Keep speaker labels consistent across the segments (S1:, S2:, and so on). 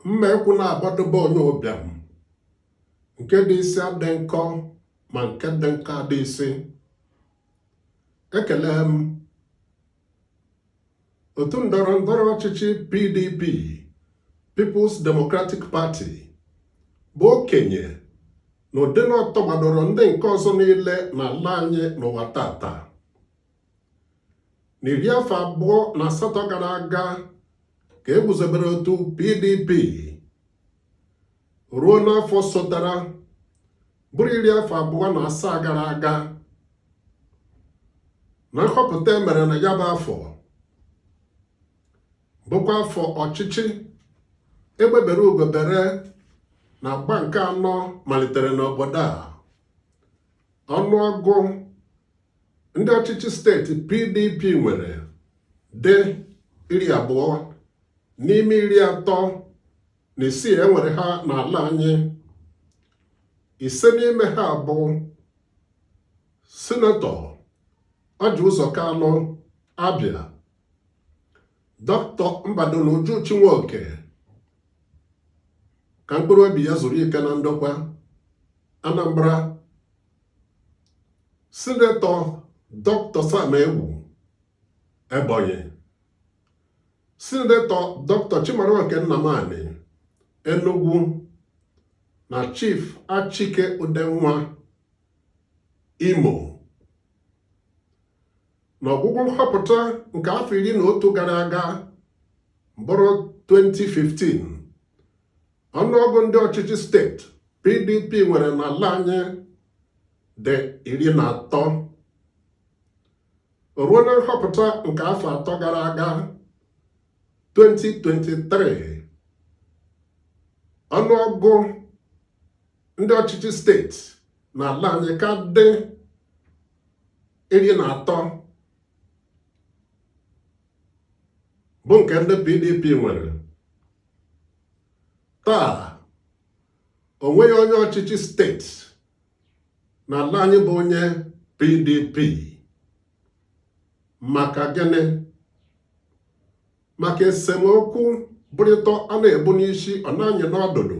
S1: mma ekwu naabọ dị be onye ụbịam nke dị isi adị nkọ ma nke dị nkọ adị isi ekele m otu ndọrọ ndọrọ ọchịchị PDP People's Democratic Party bụ okenye na ụdị na ọ tọgbadoro ndị nke ọzọ niile n'ala anyị n'ụwa tata n'iri afọ abụọ na asatọ gara aga ka e guzobere otu PDP ruo n'afọ sotara bụrụ iri afọ abụọ na asaa gara aga na nhọpụta e mere na ya bụ afọ bụkwa afọ ọchịchị egbe bere ugo bere na agba nke anọ malitere n'obodo a ọnụọgụ ndị ọchịchị steeti PDP nwere dị iri abụọ n'ime iri atọ na isii e nwere ha n'ala anyị ise n'ime ha bụ sinetọ ọjị ụzọ kalụ abịa dọkịta mbadinuju chinwoke ka mkpụrụ obi ya zuru ike na ndokwa anambra sinetọ dọkịta sam egwu Ebonyi Sinetọ Dr. Chimaroke Nnamani Enugu na Chief Achike Udenwa Imo n'ọgwụgwụ nhọpụta nke afọ iri na otu gara aga bụrụ 2015 ọnụọgụ ndị ọchịchị steeti PDP nwere n'ala anyị dị iri na atọ ruo na nhọpụta nke afọ atọ gara aga 2023 ọnụọgụ ndị ọchịchị steeti na ala anyị ka dị iri na atọ bụ nke ndị PDP nwere taa o nweghị onye ọchịchị steeti n'ala anyị bụ onye PDP maka gịnị maka esemokwu bụrịta a na-ebu n'isi ọ na-anyị n'ọdụdụ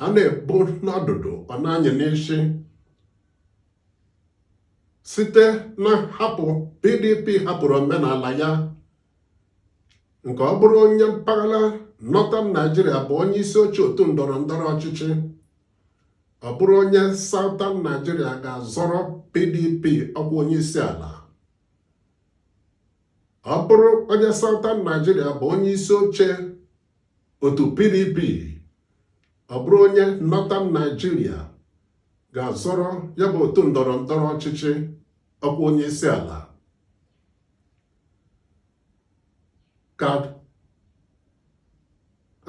S1: a na-ebu n'ọdụdụ ọ na-anyị n'isi site na nhapụ PDP hapụrụ omenala ya nke ọ bụrụ onye mpaghara Northern Nigeria bụ onye isi oche otu ndọrọ ndọrọ ọchịchị ọ bụrụ onye Southern Nigeria ga-azọrọ PDP ọkwa onye isi ala ọ bụrụ onye Southern Nigeria bụ onye isi oche otu PDP ọ bụrụ onye Northern Nigeria ga-azọrọ ya bụ otu ndọrọ ndọrọ ọchịchị ọkwa onye isi ala ka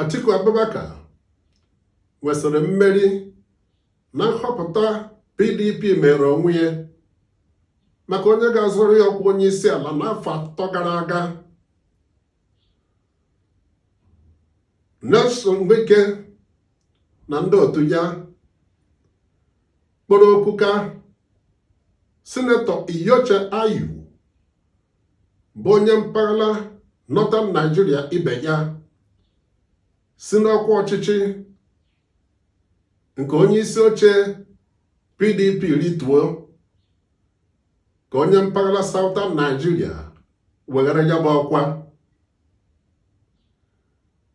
S1: Atiku Abubakar nwesịrị mmeri na nhọpụta PDP meere onwe ya maka onye ga-azọrọ ya ọkwa onye isi ala n'afọ atọ gara aga Nyesom Wike na ndị otu ya kpọrọ oku ka sinetọ Iyorchia Ayu bụ onye mpaghara Northern Nigeria ibe ya si n'ọkwa ọchịchị nke onye isi oche PDP rituo ka onye mpaghara Southern Nigeria weghara ya bụ ọkwa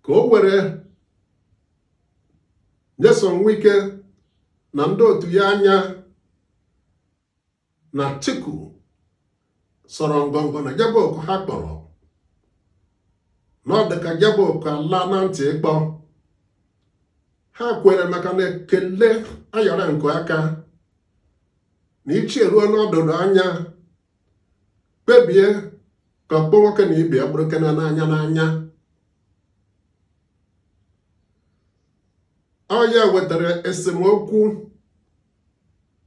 S1: ka o were Nyesom Wike na ndị otu ya anya na Atiku sọrọ ngọngọ na ya bụ oku ha kpọrọ na ọ dịka ya bụ oku ala na ntị ikpo ha kwere maka na ekele ayọrọ nke aka na ichi eruo n'ọdụdụ anya kpebie ka ọkpọ nwoke na ibe ya bụrụ kena n'anya n'anya ọ ya wetara esemokwu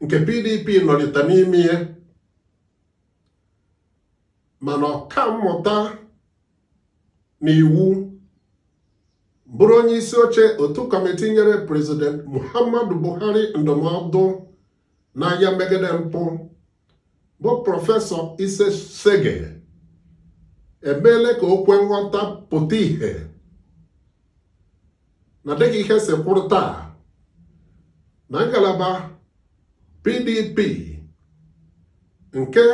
S1: nke PDP nọlite n'ime ya mana ọka mmụta na iwu bụrụ onye isi oche otu kọmiti nyere prezident Muhammadu Buhari ndụmọdụ n'agha megide mpụ bụ prọfesọ Itse Sagay emeela ka o kwe nghọta pụta ihe na dịka ihe si kwụrụ taa na ngalaba PDP nke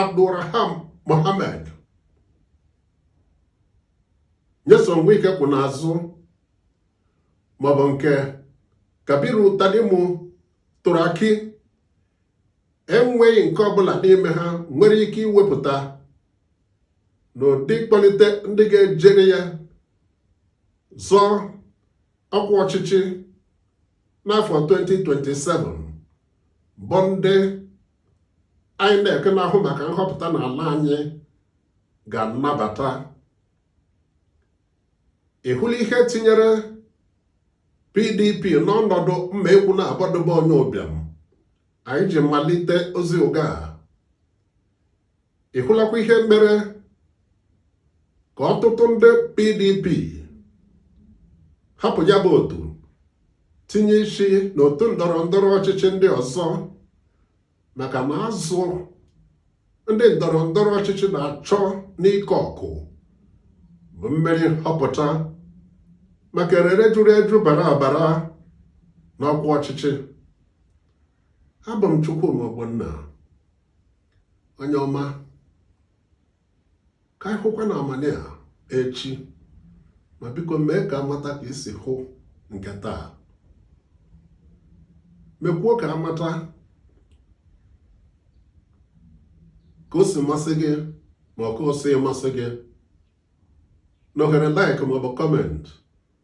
S1: Abdulrahman Mohammed Nyesom Wike kwụ n'azụ maọbụ nke Kabiru Tanimu Turaki enweghị nke ọbụla n'ime ha nwere ike iwepụta n'ụdị ịkpọlite ndị ga-ejere ya zọọ ọkwa ọchịchị n'afọ 2027 bụ ndị INEC na-ahụ maka nhọpụta n'ala anyị ga-anabata ị hụla ihe tinyere PDP n'ọnọdụ mma ekwu na agbadobe onye ụbịam anyị ji malite ozi oge a ị hụlakwa ihe mere ka ọtụtụ ndị PDP hapụ ya bụ otu tinye isi n'otu ndọrọ ndọrọ ọchịchị ndị ọzọ maka na azụ ndị ndọrọ ndọrọ ọchịchị na-achọ n'ike ọkụ bụ mmeri nhọpụta maka erere juru eju bara abara n'ọkwa ọchịchị abụ m Chukwuma Ogbonna onye ọma ka anyị hụkwa na amanị a echi ma biko mee ka a mata ka i si hụ nke taa mekwuo ka a mata ka o si masị gị ma ọ ka o si masị gị n'ohere like maọbụ kọment